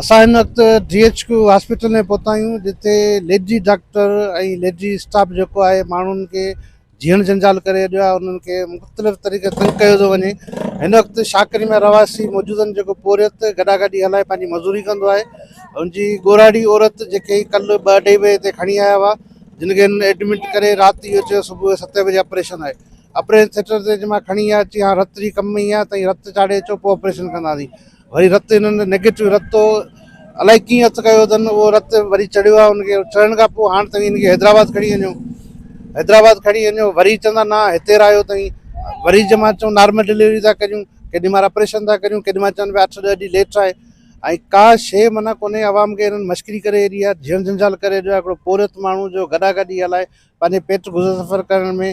اسان هن وقت ڊي ايڇ ڪيو هاسپيٽل ۾ پهتا آهيون جتي ليڊي ڊاڪٽر ۽ ليڊي اسٽاف جيڪو آهي ماڻهن کي جيڻ جنجال ڪري ڇڏيو آهي انهن کي مختلف طريقي تنگ ڪيو ٿو وڃي هن وقت شاڪري ۾ رهواسي موجود آهن جيڪو پورهيت گڏا گڏي هلائي پنهنجي مزوري ڪندو آهي ان جي ڳوراڙي عورت جيڪي ڪل ٻه اڍائي بجي تي کڻي آيا هئا جن کي هن ايڊمٽ ڪري رات اهو چيو صبح جو ستين بجي آپريشن آهي آپريشن ٿيٽر تي جي مان کڻي آيا چي هاڻ رت جي ڪم ۾ ايئن آهي تائين رت چاڙهي اچو پوء آپريشن ڪنداسين وري رت انهن نيگيٽو رت تو الائي ڪيئن هٿ ڪيو اٿن اهو رت وري چڙهيو آهي ان کي چڙهڻ کان پوء هاڻ توهين ان کي حيدرآباد کڻي وڃو حيدرآباد کڻي وڃو وري چوندا نه هتي رهايو توهين وري جي مان چون نارمل ڊليوري ٿا ڪريون ڪيڏي مال آپريشن ٿا ڪريون ڪيڏي مال چون پيا اٺ ڏهه ڏينهن ليٽ آهي ۽ ڪا شيء معنيٰ ڪونهي عوام کي هنن مشڪري ڪري هيڏي آهي جهيڻ جنجال ڪري هيڏو آهي هڪڙو پورهيت ماڻهو جو گڏا گڏي هلائي پنهنجي پيٽ گذر سفر ڪرڻ ۾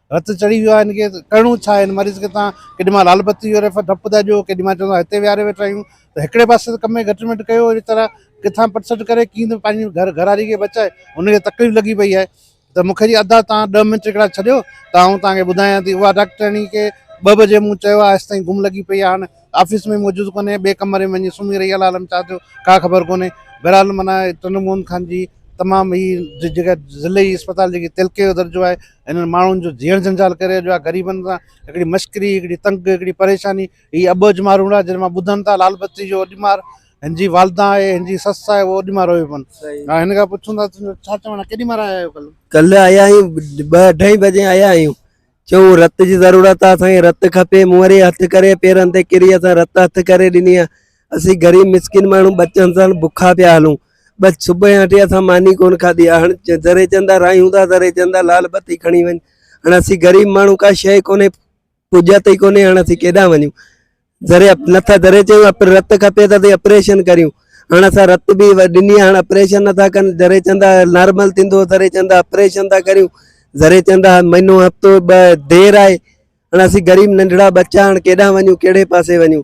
رت چڙهي ويو آهي هن کي ڪرڻو ڇا آهي هن مريض کي تان ڪيڏي مهل لال بتي جو ريفر ڊپ ٿا ڏيو ڪيڏي مهل چوندو آهي هتي ويهاري ويٺا آهيون ته هڪڙي پاسي ته ڪم ۾ گهٽ ميٽ ڪيو اهڙي طرح ڪٿان پٽ سٽ ڪري ڪيئن ته پنهنجي گهر گهراڙي کي بچائي هن کي تڪليف لڳي پئي آهي ته مون کي جي ادا تان ڏهه منٽ هڪڙا ڇڏيو ته آئون تان کي ٻڌايان ٿي اها ڊاڪٽرياڻي کي ٻه بجي مون چيو آهي هيستائين گم لڳي پئي آهي هاڻ آفيس ۾ موجود ڪونهي ٻئي ڪمري ۾ وڃي سمهي رهي آهي عالم ڇا ٿيو ڪا خبر ڪونهي بهرحال معنيٰ ٽنڊو موهن خان جي تمام هي جيڪا ضلعي اسپتال جيڪي تلڪي جو درجو آهي انهن ماڻهن جو جيئڻ جنجال ڪري اڄ آ غريبن سان هڪڙي مشڪري هڪڙي تنگ هڪڙي پريشاني هي اٻوجهه مارون آ جن مان ٻڌن ٿا لال بتي جو اڄ مار هن جي والده آهي هن جي سس آهي اهو اڄ مار روئي پن ها هن کان پڇون ٿا ڇا چوڻ ڪيڏي مار آيا آهيو ڪل ڪل آيا آهيون ٻه اڍائي بجي آيا آهيون چون رت جي ضرورت آ اسان کي رت کپي مون وري هٿ ڪري پيرن تي ڪري اسان رت هٿ ڪري ڏني آ اسين غريب مسڪين ماڻهو ٻچن سان بکا پيا هلون بس صبح يا ٽي اسان ماني ڪون کاڌي آ هن ذري چندا رايون دا ذري چندا لال بتي کڻي ون هن اسين غريب ماڻهو کا شي ڪونه پوجا تي ڪونه هن اسين ڪيدا ونيو ذري نٿا ذري چيو اپ رت کپي ته اسين آپريشن ڪريو هن اسان رت به ڏني هن آپريشن نٿا ڪن ذري چندا نارمل تيندو ذري چندا آپريشن ٿا ڪريو ذري چندا مهينو هفتو ب دير آئي هاڻ اسين غريب ننڍڙا ٻچا هاڻ ڪيڏانهن وڃون ڪهڙي پاسي وڃون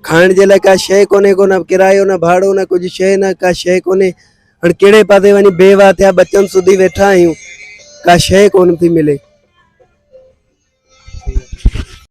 کائڻ جي لاء ڪا شيء ڪونهي ڪو نه ڪرايو نه ڀاڙو نه ڪجهه شيء نه ڪا شيء ڪونهي هاڻ ڪهڙي پاسي وڃي بي واهه ٿيا ٻچن سوڌي ويٺا آهيون ڪا شيء ڪونه ٿي ملي